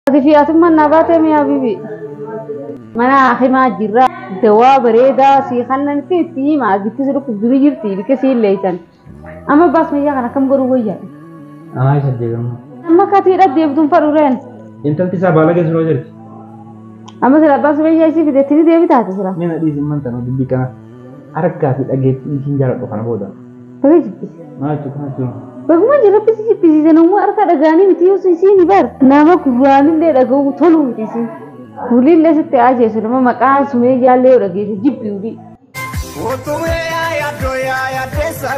Ati fi atummaan naa baatee mee habibi. Mana hakimaa jirra. Dawaa bareedaa sii kannan fi itti hima. Gitti si dhukkubdu ni jirti. Ilke si illeeysan. Amma baas mayyaa kan akkam godhuu wayya. Anaa isa deebi'amma. Amma katii dha deebituun fadhureen. Intalti isaa baalagee suroo jirti. Amma sila abbaan sumayyaa isii fideetti ni deebitaati sila. Mina dhiisin mantana dubbii kana harkaa fi dhageettii isin jaaladhu kana booda. Baga jibbisi. Maaltu kaas jiru? Baguma jirabbi si jibbisiise namuu harka dhagaanii miti yoo isiin bar nama gurraanillee dhaga'uu toluu miti isiin. Wulillee sitti ajjeesu nama maqaa sumeeyyaallee yoo dhageesse jibbi wulii. Otumee yaa yaddoo yaa yaddeessa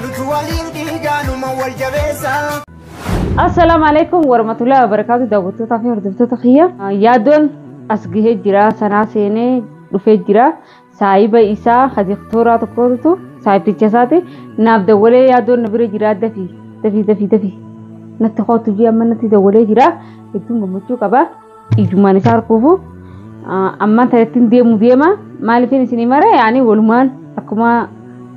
nutu waliin dhiigaa numa wal jabeessa. Assalaamu alaikum warahmatullahi wabarakatuh daawwattootaa fi hordoftoota kiyya. Yaaddoon as gahee jira sanaa seenee dhufee jira. saahiba isaa kadiktoraa tokkotu saahibticha isaati naaf dawwalee yaadoon na bira jiraa dafi dafi dafi dafi natti kootu jee amma natti dawwalee jira hedduun gammachuu qaba ijummaan isaa harkuufu ammaan talattiin deemu deema maaliifin isinii mare yaani walumaan akkuma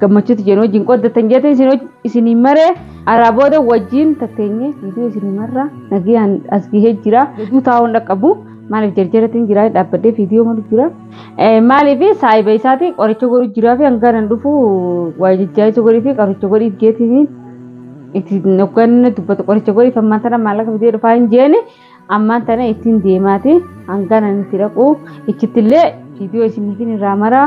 gammachuuti jeen wajjin qoddatan jeetiin isinii mare araa booda wajjin tatteenye viidiyoo isinii marra nagayaan as gahee jira hedduu taa'uun dhaqqabu maaliif jarjaratiin jira dhaabbadhee viidiyoo malu jira. Maaliif saayiba isaati qoricha godhu jiraa fi hanga nan dhufu waa jajjaa'isa godhii fi qoricha godhii jeetiin itti hoggaan dubbatu qoricha godhiif ammaan tana maallaqa bitee dhufaa hin jeeni ammaan tana ittiin deemaati hanga nan itti dhaqu ichitti illee viidiyoo isiniitiin irraa maraa.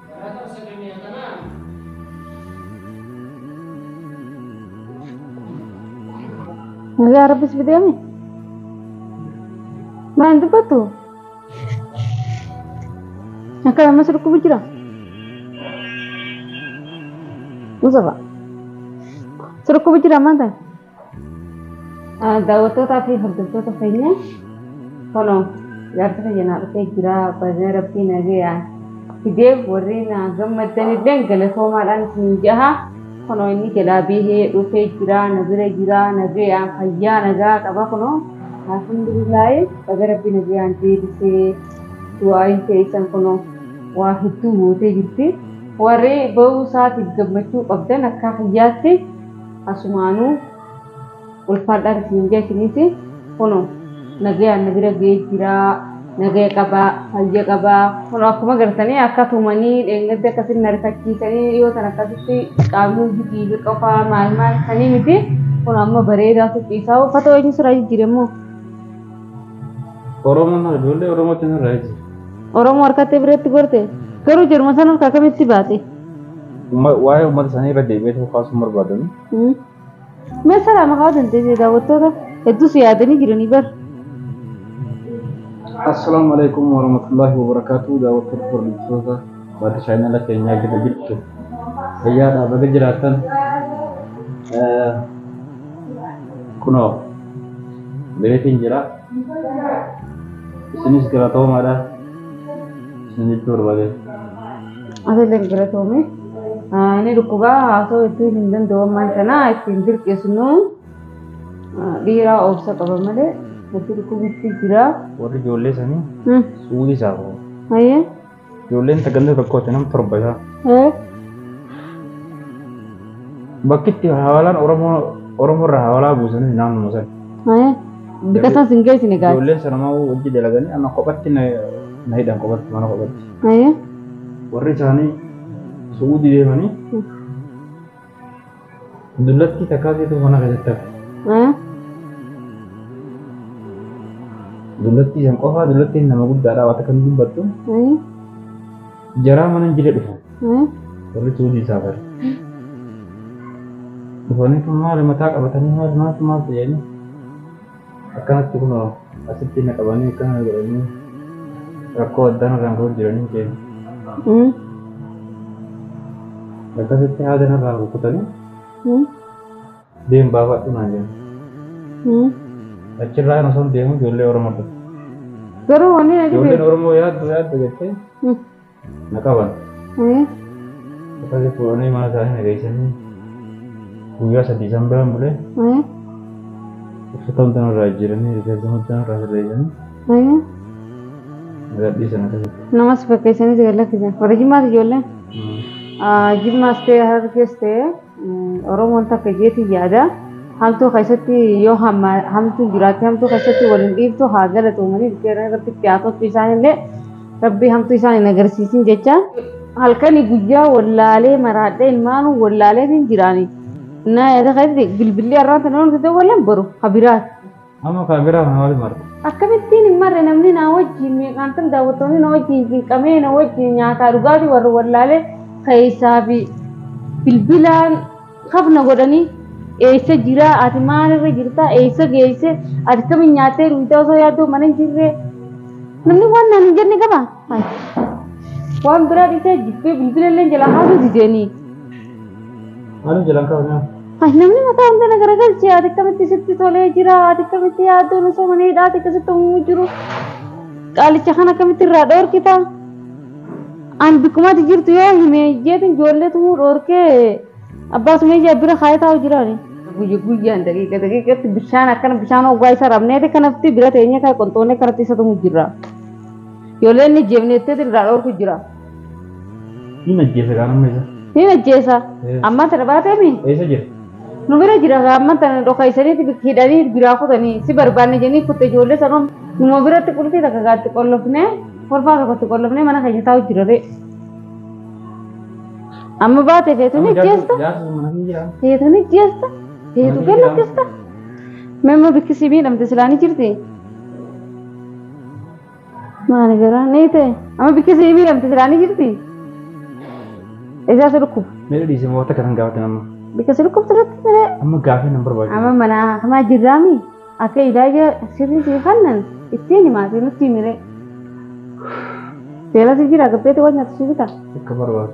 Nagaa rabbis bideemi. Maal dubbattu? Akka ammas dhukkubu jira. Musafa. Si dhukkubu jira maal ta'e? Daawwattootaa fi hordoftoota keenya kunoo jaarsi kiyya naa dhufee jira baga rabbii nagayaan fidee warri naa gammaddan illee galatoomaadhaan isin jaha kunoo inni jalaa bihee dhufee jira na bira jira nagayaan fayyaa nagaa qaba kunoo alhamdulillaahi baga rabbii nagayaan deebisee du'aayin teessan kunoo waa hedduu gootee jirti warri ba'uu isaatiif gammachuu qabdan akkaa kiyyaatti Asumaanu ulfaadhaan isin jee isinis kuno nagayaan na bira ga'ee jiraa nagaya qabaa fayya qabaa kuno akkuma agartanii akka tumanii dheengadda akkasitti na rifachiisanii dhiyoo tan akkasitti qaamni hundi dhiiga qofaa maal maal sanii miti kuno amma bareedaa tuqiisaa uffata wayii sirraa jijjiire immoo Oromoon hara ijoollee Oromootiin har'a jira. Oromoo harkatti biratti gorte garuu jirma san harka akkamitti baate? Waa'ee uummata isaanii irra deebi'ee tokko kaasuun barbaadanu. Mee sana maqaa dandeessee daawwattoota hedduus yaadanii jiranii bar. Assalaamu alaikum warahmatullahi wabarakatuh daawwattoota hordoftoota baaduu chaayinala keenyaa gita jirtu fayyaadhaa baga jiraatan kunoo beetiin jira isinis galatoomaadha isin jechuu barbaadee. Atiillee galatoomii. Ni dhukkubaa haasoo ittiin hin danda'u ammaan kana ittiin dirqisnu dhiiraa obsa qaba malee natti dhukkubitti jira. Warri ijoollee sanii Hmm. suudii isaa qabu. Hayyee. Ijoolleen tagantaa tokkooti nam torba isaa. Eh. Bakki itti hawaalaan Oromoo Oromoo irraa hawaalaa buusanis naannuma sana. Hayyee. Bitasan sin geessine gaati. Ijoolleen sanamaa hojii dalaganii amma kophatti na na hidhan kophatti mana kophatti. Haya. warri isaanii su'uudii deemanii dullattii takkaa keetuu mana keessatti hafe. Haya. Dullattii san qofaa dullattiin nama guddaadha waan takka hin dubbattu Haya. jaraa mana hin jire dhufan Haya. warri su'uudii isaa bare. Dhufanii kun maali mataa qabatanii maali maaltu maal ta'anii Akkanatti kunoo asitti na qabanii akkana na godhanii rakkoo addaan irraan ga'uuf jiranii keenya. Mm. Akkasitti haada narraa rukutanii Mm. deem baafadhu naan jedhan. Mm. Achirraa kan osoo hin deemu ijoollee Oromoo dhufe. Garuu wanni na Ijoolleen dhibe. Oromoo yaaddu yaaddu jettee Mm. Na qaban. Akkasii fuudhanii mana isaanii na geessanii guyyaa sadii isaan biraan bule uffata hundaa irraa jijjiiranii rifeensa hundaa irraa sirreessanii na gadhiisan akkasitti. Namas fakkeessanii si gad lakkisan. Warri jimmaas ijoolleen jimmaas ta'e harargees ta'e. Oromoon takka jeetiin yaada. Hamtuu keessatti yoo hamtuun jiraatte hamtuu keessatti waliin dhiiftu haa galatoomanii dhufeera irratti itti haa toltu isaan illee rabbii hamtuu isaan hin agarsiisin jecha. Halkanii guyyaa wallaalee maraadhee ilmaanuu wallaalee hin jiraani. Naa yaada keessatti bilbilli har'aan tanaan hojjetan walleen boru habiraati. Amma kaa garaa kana maaliif marre? Akkamittiin hin marre namni naa wajjiin meeqaantam daawwattoonni na wajjiin cinqamee na wajjiin nyaataa dhugaatii warra wallaalee keessaa fi bilbilaan kafna godhanii eessa jira ati maal irra jirta eessa geesse ati kamiin nyaattee dhugdee osoo yaaddoo mana hin jirre namni waan naan hin jenne qaba. Waan biraa dhiisee jibbee bilbilallee jala haasuu dideenii. Maalin jalan kaa'u Ay, namni mataa hunda na garagalche ati akkamitti sitti tolee jira ati akkamitti yaaddoon osoo mana hidhaati akkasitti uumuu jiru qaalicha kan akkamitti irraa dhoorkita an bikkumatti jirtu yoo hime jeetin ijoollee tumuu dhoorkee abbaa sumee jaa bira kaayee taa'u jiraani. Guyya guyyaan daqiiqa daqiiqatti bishaan akkana bishaan hoggaa isa rabneeti kanatti bira teenyee kan qonxoonee kanatti isa tumuu jirra. Ijoollee inni ajjeefne jetteeti irraa dhoorku jira. Hin ajjeese kaan amma isa. Hin ajjeesa. Eh. Ammaan tana baateemi. Eessa jira? Nu bira jira kaa ammaan tana dhokaysaniiti bik- hidhanii biraa kutanii si barbaanne jennee kutte ijoollee sanuun numa biratti qulfii takka gaatti qollofnee kolfaa tokkotti qollofnee mana keenya taa'u jira ree. Amma baate feetu ni ajjeesta. Jaarsi sun mana hin jira. Feetu ni ajjeesta. Feetu Mana ni jira. gallakkista. Memma bikkisii miidhamte silaa ni jirti. Maali garaa ni ta'e amma bikki si miidhamte silaa ni jirti. Isaa si dhukkuba. Mee dhiisee moota kan gaafatan amma. Bikka si dhukkubte irratti malee Amma gaafii nan barbaadu. amma mana hamaa jirraami akka ilaaja sirrii si kannan ittiin himaatee nutti himire. Seera si jira gabbeetti waan nyaatu si bitaa. Akka barbaadu.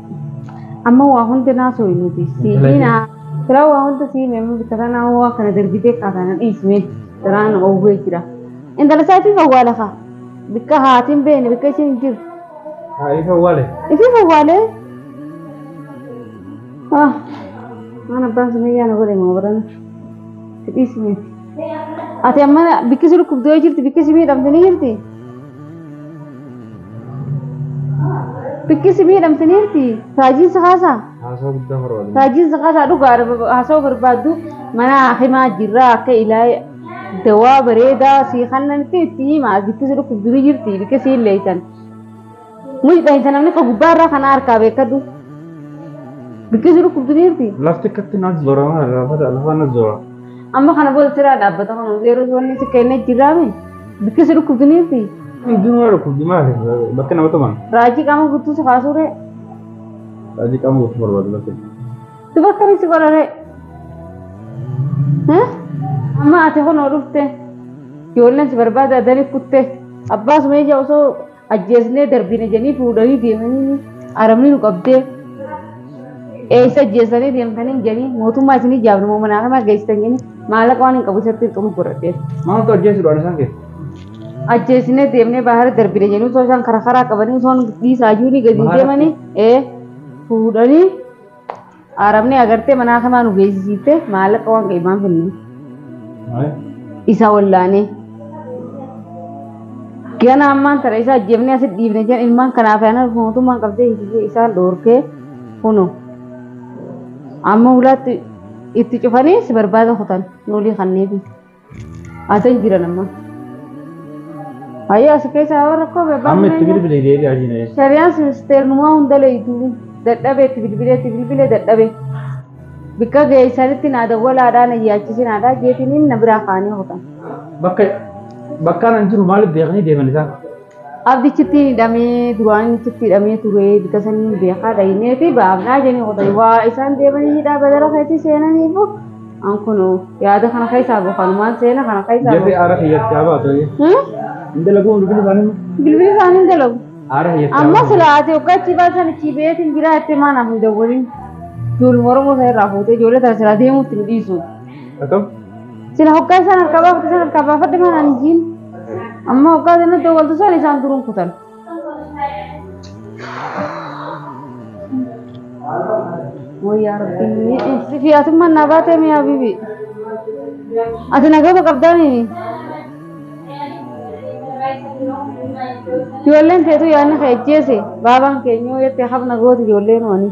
Amma waa hunda naa sooyi nuti. Siidina. Siraa waa hunda sii meemma bittara naa hoo waa kana dargitee kaataa na dhiismee siraa na oowwee jira. Intala isaatiif awwaala kaa. Bikka haatiin beene bikka ishiin jiru. Haa ifa wale. Ifiif awwaalee. Ah. Waan abbaan sumayyaa na godhe moo barana. Si dhiismee. Ati amma bikki si dhukkubdee jirti bikki si miidhamte ni jirti. Bikki si miidhamtaniirti. Raajiin si kaasaa? Haasaa guddaa barbaadu. Raajiin si kaasaa dhugaa haasawuu barbaaddu mana hakimaa jirraa akka ilaahe dawaa bareedaa si kannan fi itti hima as bikki si dhukkubdu ni jirti bikki si illeeytan. Muyi dhahinsa namni ka gubbaa irraa kana harkaa beekadhu. Bikki si dhukkubdu ni jirti. Lafti akkatti naaf zoora maal lafa lafa na zoora. Amma kana booda siraa dhaabbata kana yeroo wanni si kennee jiraame bikka si dhukkubdiniifi Ijuma dhukkubdi maali? Bakka nama tuman. raajii qaama guutuu si kaasuure Raajii qaama guutuu barbaadu bakka. si bakka ni si godhare. Amma ati kunoo dhufte ijoolleen si barbaada adanii kutte abbaa sumeeyyaa osoo Ajjeesnee darbina jedhanii fuudhanii deemanii aramni nu qabdee eessa ajjeessanii deemtanii jedhanii mootummaa isin ijaafne moo manaa kanaa geessitan jedhanii maallaqa waan hin qabu isatti hin xumur godhadhee. Maaltu ajjeesuudhaan isaan keessa? Ajjeesnee deemnee baahara darbina jedhanii osoo isaan karaa karaa qabanii osoo dhiisaayyuu ni gadi Baahara- deemanii ee fuudhanii Arabni agartee manaa kamaa nu geessisiitte maallaqa waan qeemaan finne. Isa wallaanee. Gana ammaan tana isa ajjeefnee asitti dhiifne jedhan ilmaan kanaaf yaana mootummaan qabdee hiisisee isaan dhoorkee kuno. Amma hulaatti itti cufanii si barbaada kutan nuulii kanneefi. Asan jiran amma. Ayyaa asi keessaa warra koo bebbaa. Amma itti bilbilee deebi'aa jiran. Shari'aan sinisteernumaa hunda leeydu dadhabee itti bilbilee itti bilbilee dadhabee. Bikka geessanitti naa dawwalaadhaa na yaachisinaadhaa jeetiniin na biraa kaanii hootan. Bakka bakkaan an jiru maaliif beekanii deeman isaan? Abdichitti hidhamee duraan inni achitti hidhamee ture bika saniin beekaa dhaynee fi baafnaa jenii qotan waa isaan deemanii hidhaa badara keetii seenaniifu an kun yaada kana keessaa bahu kanumaan seena kana keessaa Jefi bahu. aara kiyyatti haa baatu. Hmm? Hin dalaguu bilbili isaanii. Bilbili isaanii hin dalagu. Aara kiyyatti haa Amma baatu. sila ati waggaa achi baasan achi beetiin jiraa itti maa naaf hin dawwalin. Ijoollee Oromoo sana irraa fuutee ijoollee sana sila deemuutti hin dhiisu. Akkam? Sila hoggaa isaan harkaa baafadhu isaan harkaa baafadhu mana ani jiin. Amma hoggaa sana dawwaltu sana isaan turuun kutan. Wayyaa rabbii. Sifi atummaan naa baatee miyaa bibi. Ati nagama qabdaanii. Ijoolleen teetu yaadni kee ajjeese baabaan keenyoo jettee hafna goote ijoolleen wanii.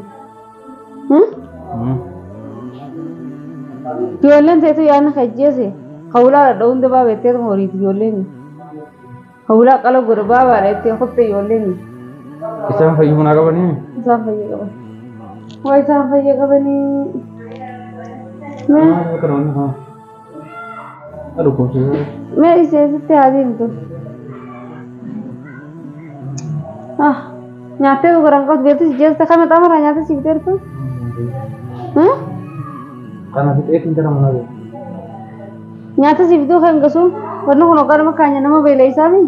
Ijoolleen teetu yaadna kajjeese hawlaa dhadha hunda baaba jetteetu horiiti ijoolleen. Hawlaa qala godha baabaadha jettee kotte ijoolleen. Isaan fayyuu naa qabanii? Isaan fayya qaban. Waa isaan fayya qabanii. Maal akka ta'an haa? Mee ishee sitti haa deemtu. Ah, nyaattee gurguran qotu beektu si jeessa kana xamara nyaattee si biteertu. Kana fixeetti hin jedhamu nabe. Nyaattee si bituu kan gasu wanni kun hoggaa nama kaanya nama beela isaanii.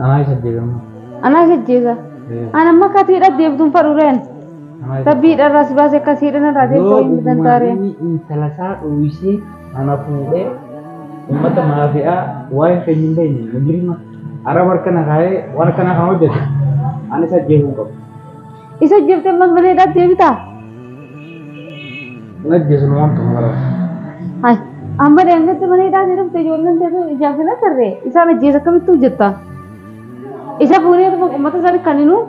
Anaa isa jeeqamma. Anaa isa jeesa. Ana amma akka atiidha deebituun fadhuureen. Rabbii dharraa si baase akka siidhan irraa deebitoo hin bitan taareen. Yoo intala isaa dhooyisee ana fuudhee uummata maafi'aa waa'ee keenya hin beekne mujirima araba harka na kaa'ee waan akkana kan hojjetu ani isa jeequu hin qabu. Isa jeftee man mana hidhaatti deebitaa? Najjeesinu waan tokko kana. Hai, amma deemtetti mana hidhaatti dhufte ijoolleen teetu ijaaf hin agarre. Isaan ajjeesa akkamittuu jetta? Isa fuunee dhuma uummata isaanii kan hinuu?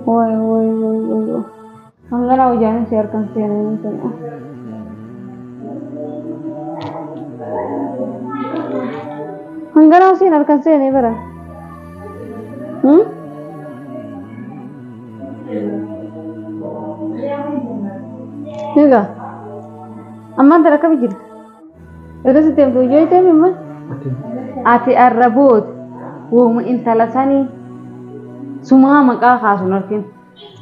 Wai, wai, wai, wai, wai. Hangana hojaan si harkan seenanii kun. Hangana siin harkan seenee bara. Hmm? Egaa ammaan tana akkami jirti? Erga sitti himtu hojii hojii ta'e immoo ati arraboota wooma intala sanii sumaa maqaa kaasun arginu.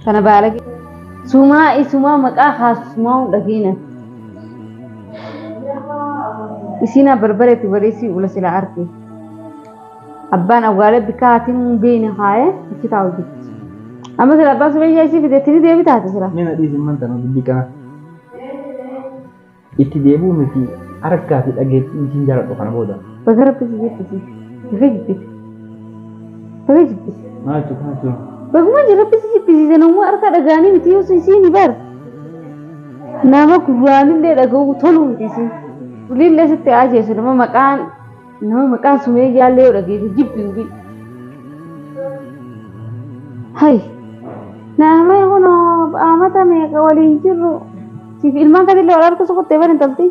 Kana baalage. Sumaa isumaa maqaa haasumaa hin dhageena. Isiin abbarbareetti baleessii ula sila arge. Abbaan awwaalee bikkaa hatiin hin beeyne haayee achi taa'u jirti. Amma sila abbaan sumayyaa isii fideetti ni deebi taate sila. Mina dhiisin manta na dubbii kana. Itti deebi'uu miti argaa fi dhageettii isiin jaaladhu kana booda. Baga rabbi si jibbisiise. Baga jibbite. Baga jibbite. Maal jechuudha maal jechuudha. Baguma ji rabbi si jibbisiise namuma arkaa dhaga'anii miti yoo isiini bar. Nama gurraanillee dhaga'uu toluu miti isiin. Waliillee sitti haa ajeesu nama maqaan Nama maqaa sumeeyyaa illee yoo dhageesse jibbi hubii. Hay! Naamee kun amata meeqa waliin jirru siif ilmaan kan illee wal harka sukuttee bani tolti.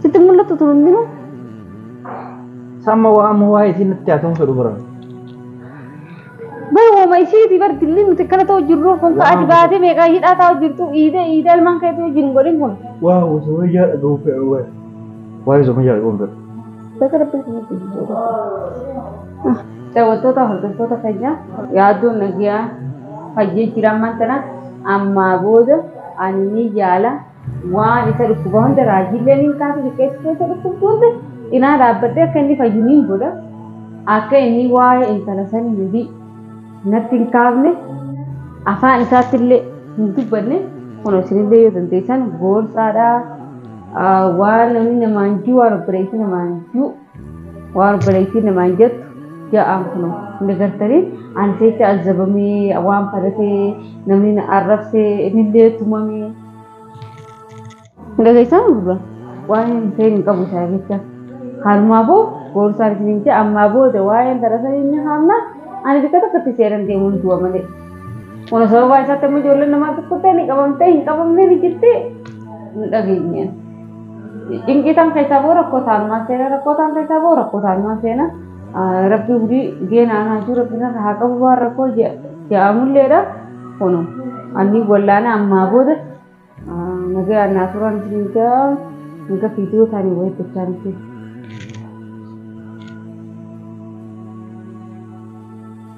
Sitti mul'attu tun hundinuu. Samma waa amma waa isiin natti haa ta'uun fedhu bara. Bar woma ishiiti bar dilli nuti akkana ta'u jirru kun ka ati baatee meeqaa hidhaa taa'u jirtu iidee iidee ilmaan keetu wajjin hin godhin kun. Waaw sumayyaa dhaga'uu fedha waay. Waa'ee sumayyaa dhaga'uu fedha. Bakka rabbii kun nuti jijjiirra. Daawwattoota hordoftoota keenyaa yaaddoon nagaa fayyee jira ammaan tana ammaa booda ani ni yaala. Waan isa dhukkuba hunda raajiillee nin kaasa xiqqeessi keessa dhukkubdu hunda cinaa dhaabbadhee akka inni fayyu nin godha. Akka inni waa'ee intala sanii nabii natti hin kaafne afaan isaatti illee hin dubbanne kun isinillee yoo dandeessan gorsaadha. Waan namni namaan jiru waan obboleessi namaan jiru waan obboleettiin namaan jettu ja'aan kuno hin degartanii ani seecha azzabamee waan falatee namni na arrabsee inillee tumamee hin dhageessaa gurra waan hin ta'in hin qabu isaa jecha haalumaa boo goorsaan isin hin ja'a ammaa booda waa'een darasan inni haamna ani bikka tokkotti seeran deemuun du'a malee kuno sababaa isaatti amma ijoolleen namaa tokkottee ni qabamtee hin qabamnee ni jirti hin dhageenyeen. Dinqii tan keessaa boo rakkoo taanumaan seena rakkoo taan keessaa boo rakkoo taanumaan seena rabbi hudii geenaan haajuu rabbi irra haa qabu waan rakkoo ja'amulleedha kunu anni wallaana ammaa booda nagayaan naa turan dinga dinga fiidiyoo taanii wayii gochaa miti.